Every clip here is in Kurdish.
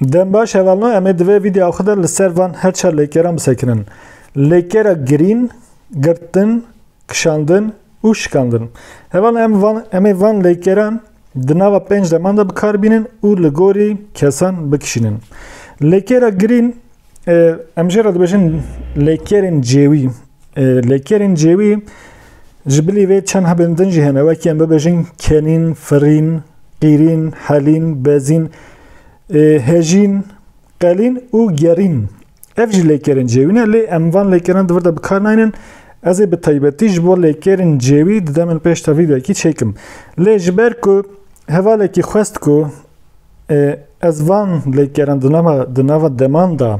Dem baş hevalna em ê di vê vîdyoya xwe de li ser van her çar lêkeran bisekirin. Lêkera girîn, girtin, kişandin û şikandin. Hevalna em van em ê van lêkeran di nava pênc deman de bikar bînin û li gorî kesan bikişînin. Lêkera girîn Em jê re dibêjin lêkerên cêwî. Lêkerên cêwî ji bilî vê çend hebên din jî hene wekî em bibêjin kenîn, firîn, qîrîn, helîn, bezîn, hejîn, qelîn û gerîn. Ev jî lêkerên cêwî ne lê em van lêkeran di vir de bi kar naynin. Ez ê bi taybetî ji bo lêkerên cêwî di demên pêş de vîdeoyekî çêkim. Lê ji ber ku hevalekî xwest ku Ez van lêkeran di nava di nava deman de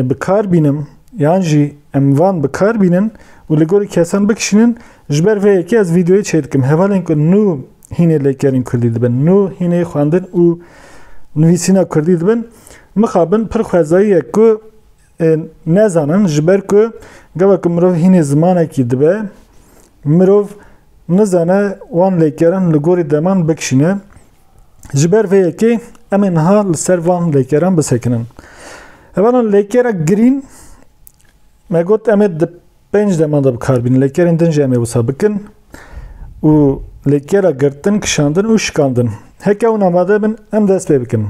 bi kar bînim yan jî em van bi kar bînin û li gorî kesan bikişînin ji ber vê yekê ez vîdeoyê çê dikim hevalên ku nû hînê lêkerên kurdî dibin nû hînê xwendin û nivîsîna kurdî dibin mixabin pir xwezayî ye ku nezanin ji ber ku gava ku mirov hînê zimanekî dibe mirov nizane wan lêkerin li gorî deman bikişîne. Ji ber vê yekê em ê niha li ser van lêkeran bisekinin. Hevanan lêkera girîn me got em ê di pênc deman de bikar bînin. Lêkerên din jî em ê wisa bikin û lêkera girtin, kişandin û şikandin. Heke hûn amade bin em dest pê bikin.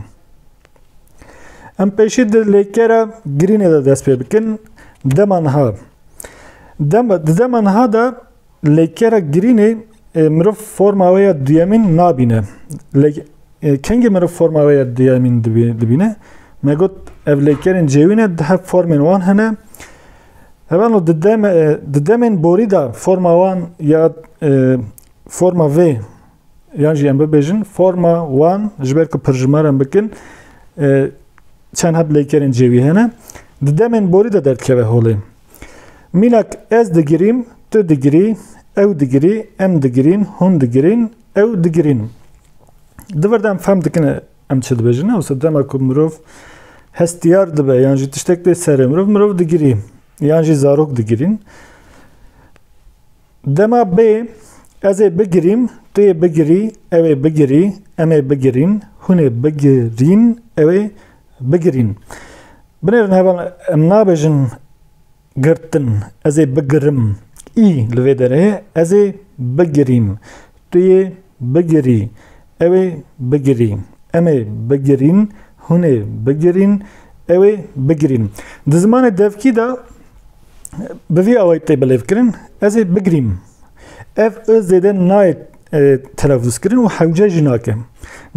Em pêşî di lêkera girînê de dest pê bikin. Dema niha. Dem, di dema niha de lêkera girînê e, mirov forma wê ya duyemîn nabîne. Lê e, kengê mirov forma wê ya duyemîn dibî- dibîne. Me got ev lêkerên cêwî ne di hev formên wan hene. Evano di dem- e, di demên borî de forma wan ya e, forma vê Yan jî em bibêjin forma wan ji ber ku pirjimaran bikin e, çend heb leykerên cêwî hene di demên borî de derdikeve holê. Mînak ez digirîm, tu digirî, ew digirî, em digirîn, hûn digirîn, ew digirîn. Di vir de em fehm dikin e, em çi dibêjin ne wisa dema ku mirov hestiyar dibe yan jî tiştek tê serê mirov mirov digirî yan jî zarok digirîn. Dema bê, ez ê bigirîm, tu yê bigirî, ew ê bigirî, em ê bigirîn, hûn ê bigirîn, ew ê bigirîn. Binêrin heval em nabêjin girtin, ez ê bigirim, î li vê derê ye, ez ê bigirîm, tu yê Bigirî, ew ê bigirî. Em ê bigirîn, hûn ê bigirîn, ew ê bigirîn. Di zimanê devkî de bi vî awayî tê bilêvkirin, ez ê bigirîm. Ev i zêde nayê telefuzkirin û hewce jî nake.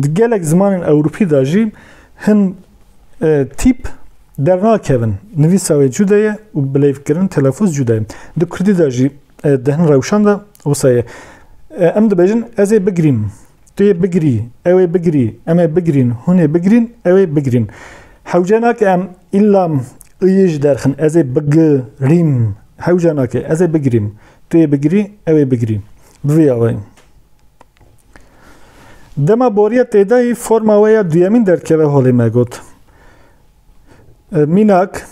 Di gelek zimanên ewropî de jî hin tîp dernakevin. Nivîsa wê cude ye û bilêvkirin, telefuz cude ye. Di kurdî de jî di hin rewşan de Wisa ye. Em dibêjin ez ê bigirîm, tu yê bigirî, ew ê bigirî, em ê bigirîn, hûn ê bigirîn, ew ê bigirîn. Hewce nake em îlla i yê ji derxin ez ê bigi-rîm hewce nake. Ez ê bigirîm, tu yê bigirî, ew ê bigirî. Bi vî awayî. Dema boriya têdayî forma we ya duyemîn derdikeve holê me got. Mînak,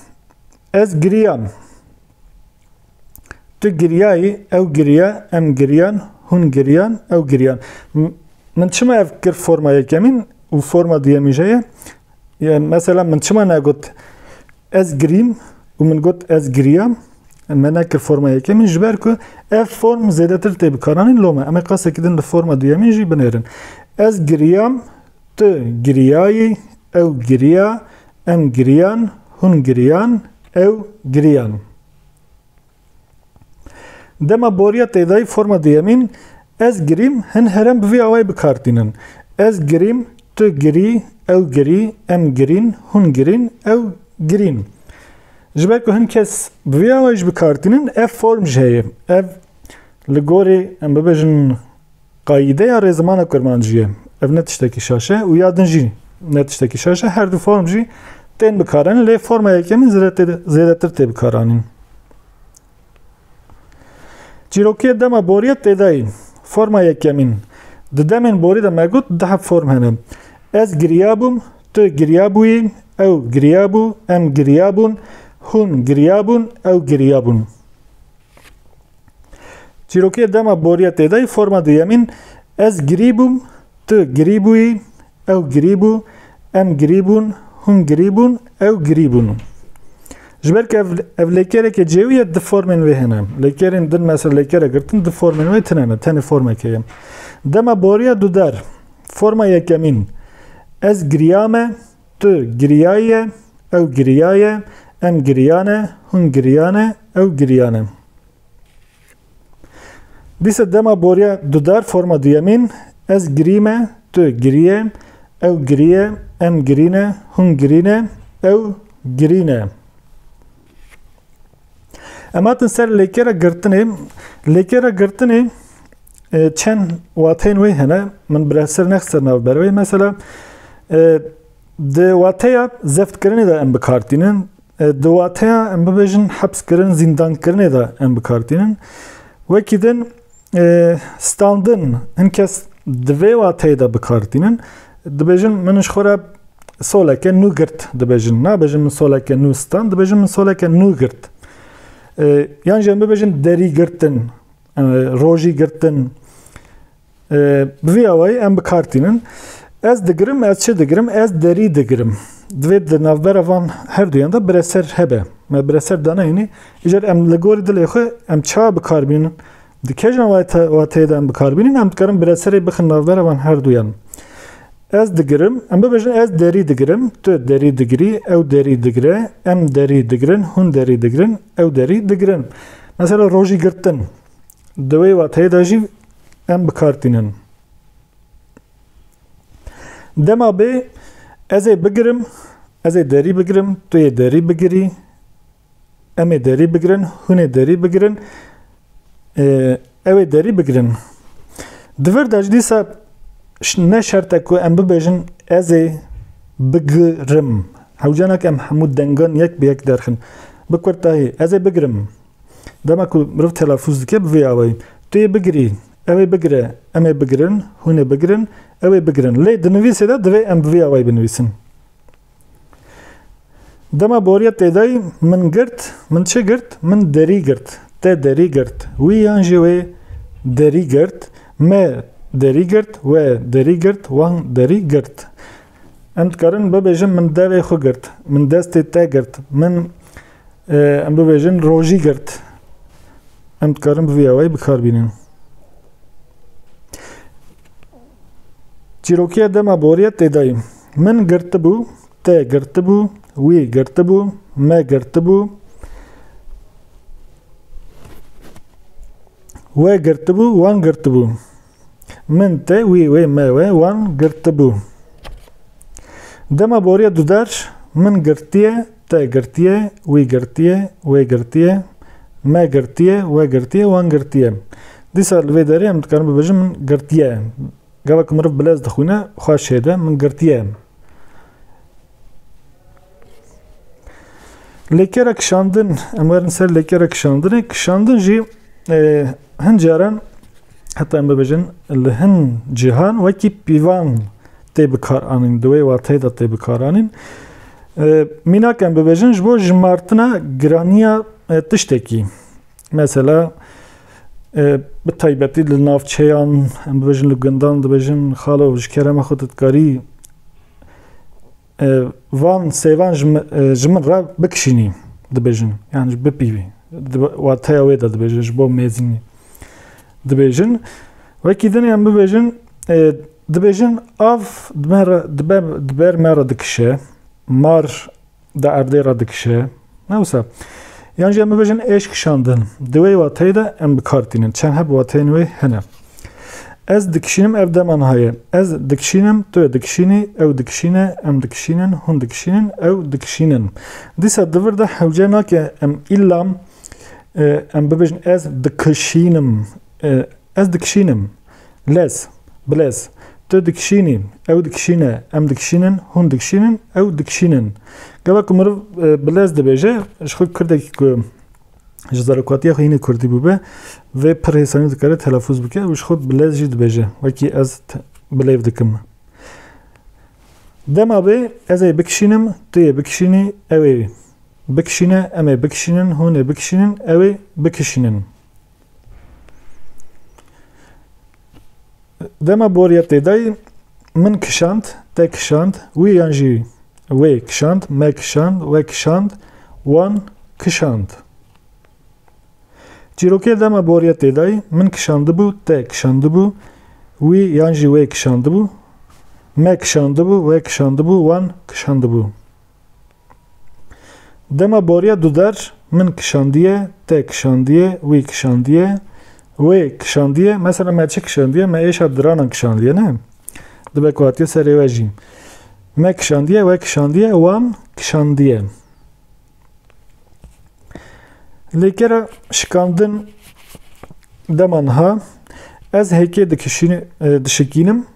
ez giriyam. Tu giryayî, ew giriya, em giriyan, hûn giriyan, ew giriyan. Min çima ev kir forma yekemîn û forma duyemîn jê ye? Mesela min çima negot ez girîm û min got ez giriyam? Me nekir forma yekemîn ji ber ku ev form zêdetir tê bikaranîn lome. Em ê qasekî din li forma duyemîn jî binêrin. Ez giriyam, tu giriyayî, ew giriya, Em giriyan, hûn giriyan, ew giriyan. Dema boriya têdayî forma duyemîn ez girîm hin herem bi vî awayî bi kar tînin. Ez girîm, tu girî, ew girî, em girîn, hûn girîn, ew girîn. Ji ber ku hin kes bi vî awayî jî bi kar tînin ev form jî heye. Ev li gorî em bibêjin Qayîdeya rêzimana kurmancî ye. Ev ne tiştekî şaş e û ya din jî ne tiştekî şaş e. Her du form jî tên bikaranîn lê forma yekemîn zêdetir tê bikaranîn. Çîrokîyê dema borî ye têdayî. Forma yekemîn. Di demên borî de me got du heb form hene. Ez girîyabûm, tu girîyabûyî, ew girîyabû, em girîyabûn, hûn girîyabûn, ew girîyabûn. Çîrokê dema boriya têdayî forma duyemîn ez girî bûm, tu girî bûyî, ew girî bû, em girî bûn, hûn girî bûn, ew girî bûn. Ji ber ke ev lêkereke cêwî ye di formên wê hene. Lêkerên din mesela lêkere girtin di formên wê tine ne. Tenê formeke ye. Dema boriya dudar forma yekemîn ez giriyame, Tu giriyaye, ew giriyaye, em giriyane, hûn giriyane, ew giriyane. Dîsa dema boriya dudar forma duyemîn ez girîme, tu giriye, ew giriye, em girîne, hûn girîne, ew girîne. Em hatin ser lêkera girtinê. Lêkera girtinê e, çend wateyên wê hene. Min bi ser nex ser nav berwê. Mesela e, di wateya zeftkirinê de em bikartînin. E, di wateya em bibêjin hepskirin, zîndankirinê de em bikartînin. Wekî din standin hin kes di vê wateyê de bikartînin dibêjin min ji xwe re soleke nû girt dibêjin nabêjin min soleke nû stand dibêjin min soleke nû girt yan jî em bibêjin derî girtin rojî girtin bi vî awayî em bikartînin ez digirim ez çi digirim ez derî digirim divê di navbera van her duyan de bireser hebe me bireser danayînî Îcar em li gorî dilê xwe em çawa bikarbînin, di kejna wateyê de em bikarbînin em dikarin bi reserê bixin navbera van herduyan. Ez digirim, em bibêjin ez derî digirim, tu derî digirî, ew derî digire, em derî digirin, hûn derî digirin, ew derî digirin. Mesela rojî girtin di wê wateyê de jî em bikartînin. Dema bê ezê bigirim, ezê derî bigirim, tu yê derî bigirî, Em ê derî bigirin, hûn ê derî bigirin, ew ê derî bigirin. Di vir de jî dîsa ne şert e ku em bibêjin ez ê bigirim. Hewcana ke em hemû dengan yek bi yek derxin. Bi kurtayî ez ê bigirim. Dema ku mirov telafûz dike bi vê awayî. Tu yê bigirî, ew ê bigire, em ê bigirin, hûn ê bigirin, ew ê bigirin. Lê di nivîsê de divê em bi vê awayî binivîsin. Dema boriya têdayî min girt, min çi girt? Min derî girt. Te derî girt. Wî yan jî wê derî girt. Me derî girt. We derî girt. Wan derî girt. Em dikarin bibêjin min devê xwe girt. Min destê te girt. Min em bibêjin rojî girt. Em dikarin bi vî awayî bikar bînin. Çîrokiya dema boriya têdayî. Min girtibû, te girtibû, wî girtibû, me girtibû, we girtibû, wan girtibû. Min te, wî wê, me we, wan girtibû. Dema boriya duder min girtiye, te girtiye, wî girtiye, wê girtiye, me girtiye, we girtiye, wan girtiye. Dîsa li vê derê em dikarin bibêjin min girtiye. Gava ku meriv bilez dixwîne xwe şêde min girtiye em. Lêkera kişandin em werin ser lêkera kişandinê kişandin jî hin caran heta em bibêjin li hin cîhan wekî pîvan tê bikaranîn di wê wateyê de tê bikaranîn. Mînak em bibêjin ji bo jimartina giraniya tiştekî. Mesela bi taybetî li navçeyan em dibêjin li gundan dibêjin xalo ji kerema xwe didkarî van sêvan ji min re bikişînî dibêjin yan ji bipîvî wateya wê de dibêjin ji bo mêzînî dibêjin wekî din em bibêjin dibêjin av dibe me re dikişe mar Di erdê re dikişe. Ne wisa. Yan jî em bibêjin êş kişandin. Di wê wateyê de em bi kar tînin. Çend heb wateyên wê hene. Ez dikişînim ev dema niha ye. Ez dikişînim, tu yê dikişînî, ew dikişîne, em dikişînin, hûn dikişînin, ew dikişînin. Dîsa di vir de hewce nake em îlla em bibêjin ez dikişînim. Ez dikişînim. Lez, bilez, tu dikişînî, ew dikişîne, em dikişînin, hûn dikişînin, ew dikişînin. Gava ku meriv bilez dibêje, ji xwe kirdekî ku ji zarokatiya xwe hînê kurdî bûbe, vê pir hêsanî dikare telefûz bike û ji xwe bilez jî dibêje, wekî ez bilêv dikim. Dema bê ez ê bikişînim, tu yê bikişînî, ew ê bikişîne, em ê bikişînin, hûn ê bikişînin, ew ê bikişînin. Dema boriya têdayî min kişand, te kişand, wî yan jî wê kişand, me kişand, we kişand, wan kişand. Çîrokê dema boriya têdayî min kişandibû, te kişandibû, wî yan jî wê kişandibû, me kişandibû, we kişandibû, wan kişandibû. Dema boriya duder min kişandiye, te kişandiye, wî kişandiye, wê kişandiye, mesela me çi kişandiye, me êşa diranan kişandiye ne? Dibe ku hatiye serê we jî. Me kişandiye, we kişandiye, wan kişandiye. Lê kera şikandin dema niha ez hêkê dikişîn, dişikînim,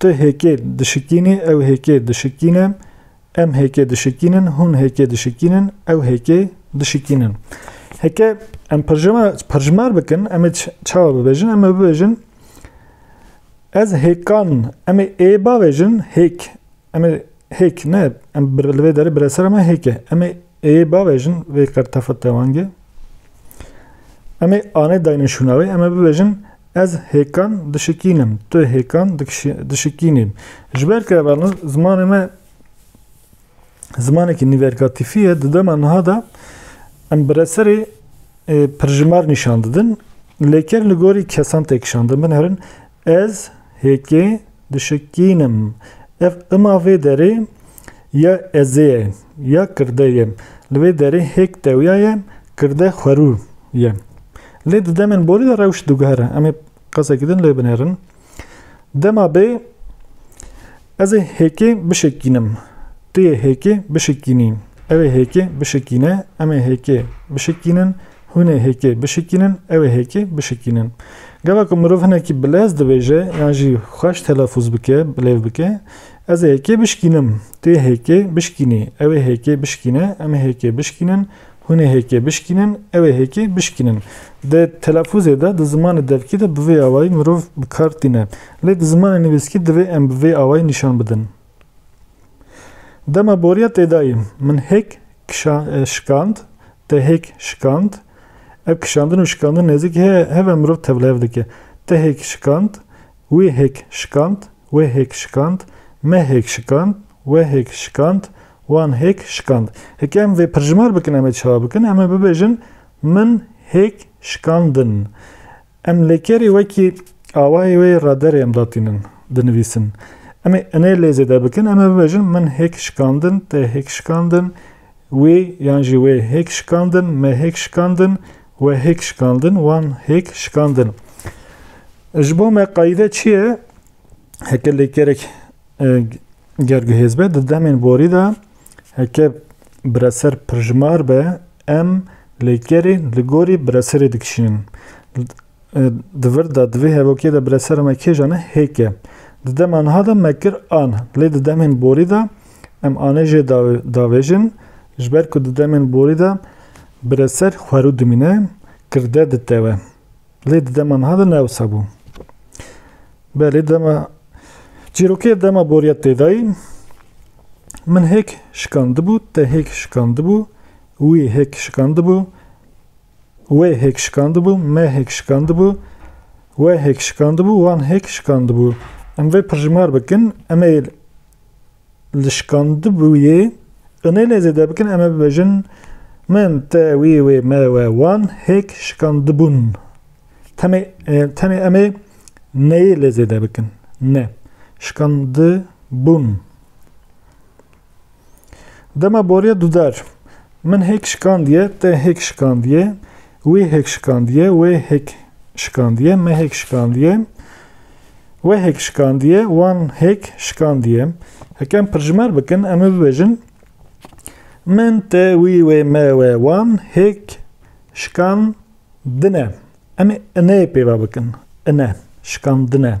Tu hêkê dişikînî, ew hêkê dişikîne, em hêkê dişikînin, hûn hêkê dişikînin, ew hêkê dişikînin. Heke em perjima, perjimar bikin, em ê çawa bibêjin? Em ê bibêjin ez hêkan, em ê ê bavêjin hêk. Em ê hêk ne, em bir li vê derê bireser me hêk e. Em ê ê bavêjin vê qertefet dewangê. Em ê anê dayne şûna wê, em ê bibêjin Ez hêkan dişikînim, tu hêkan dişikînî. Ji ber ke zimanê me zimanekî nîvergatîfî ye, di dema niha de em bi reserê pirjimar nîşan didin. Lê ker li gorî kesan tê kişandin. Bin herin ez hêkê dişikînim. Ev ima vê derê ya ezê ye, ya kirde ye. Li vê derê hêk tewya ye, kirde xwerû ye. Lê di demên borî de rewş diguhere. Em ê qesekî din lê binêrin. Dema bê ez ê hêkê bişikînim. Tu yê hêkê bişikînî. Ew ê hêkê bişikîne. Em ê hêkê bişikînin. Hûn ê hêkê bişikînin. Ew ê hêkê bişikînin. Gava ku mirov hinekî bilez dibêje yan jî xweş telefûz bike, bilêv bike, Ez ê hêkê bişikînim. Tu yê hêkê bişikînî. Ew ê hêkê bişikîne. Em ê hêkê bişikînin. Hûn ê hêkê bişkînin, ew ê hêkê bişkînin. Di telafûzê de, di zimanê devkî de bi vê awayî mirov bi kar tîne. Lê di zimanê nivîskî divê em bi vê awayî nîşan bidin. Dema boriya tê dayî, min hêk şikand, te hêk şikand. Ev kişandin û şikandin nêzîkî heye, heve mirov tevlihev dike. Te hêk şikand, wî hêk şikand, wê hêk şikand, me hêk şikand. We hêk şikand, wan hêk şikand. Heke em vê pirjimer bikin em ê çawa bikin? Em ê bibêjin min hêk şikandin. Em lêkerî wekî awayê wê ra derê em datînin, dinivîsin. Em ê inê lê zêde bikin, em ê bibêjin min hêk şikandin, te hêk şikandin, wî yan jî wê hêk şikandin, me hêk şikandin, we hêk şikandin, wan hêk şikandin. Ji bo me qayîde çi ye? Heke lêkerek Ger ku hêzbe di demên borî de heke bireser pirjimar be, em lêkerî li gorî bireserê dikişînin. Di vir de di vê hevokê de biresera me kêja ne hêk e. Di dema niha de me kir an, lê di demên borî de em anê jê davêjin, ji ber ku di demên borî de bireser xwerû dimîne, kirde ditewe. Lê di dema niha de ne ewsa bû. Belê dema çîrokê dema boriya têdayî min hêk şikandibû, te hêk şikandibû, wî hêk şikandibû, wê hêk şikandibû, me hêk şikandibû, we hêk şikandibû, wan hêk şikandibû. Em vê pirjimar bikin, em ê li şikandibûyê inê lê zêde bikin em ê bibêjin min, te, wî, wê, me, we, wan hêk şikandibûn. Temê, tenê em ê neyê lê zêde bikin. Ne. Şikandibûn. Dema boriya dudar min hêk şikandiye, te hêk şikandiye, Wî hêk şikandiye, wê hêk şikandiye, me hêk şikandiye, we hêk şikandiye, wan hêk şikandiye. Heke em pirjimer bikin, em ê bibêjin min, te, wî, wê, me, we, wan hêk şikandine. Em ê ineyê pêva bikin. Ine, şikandine.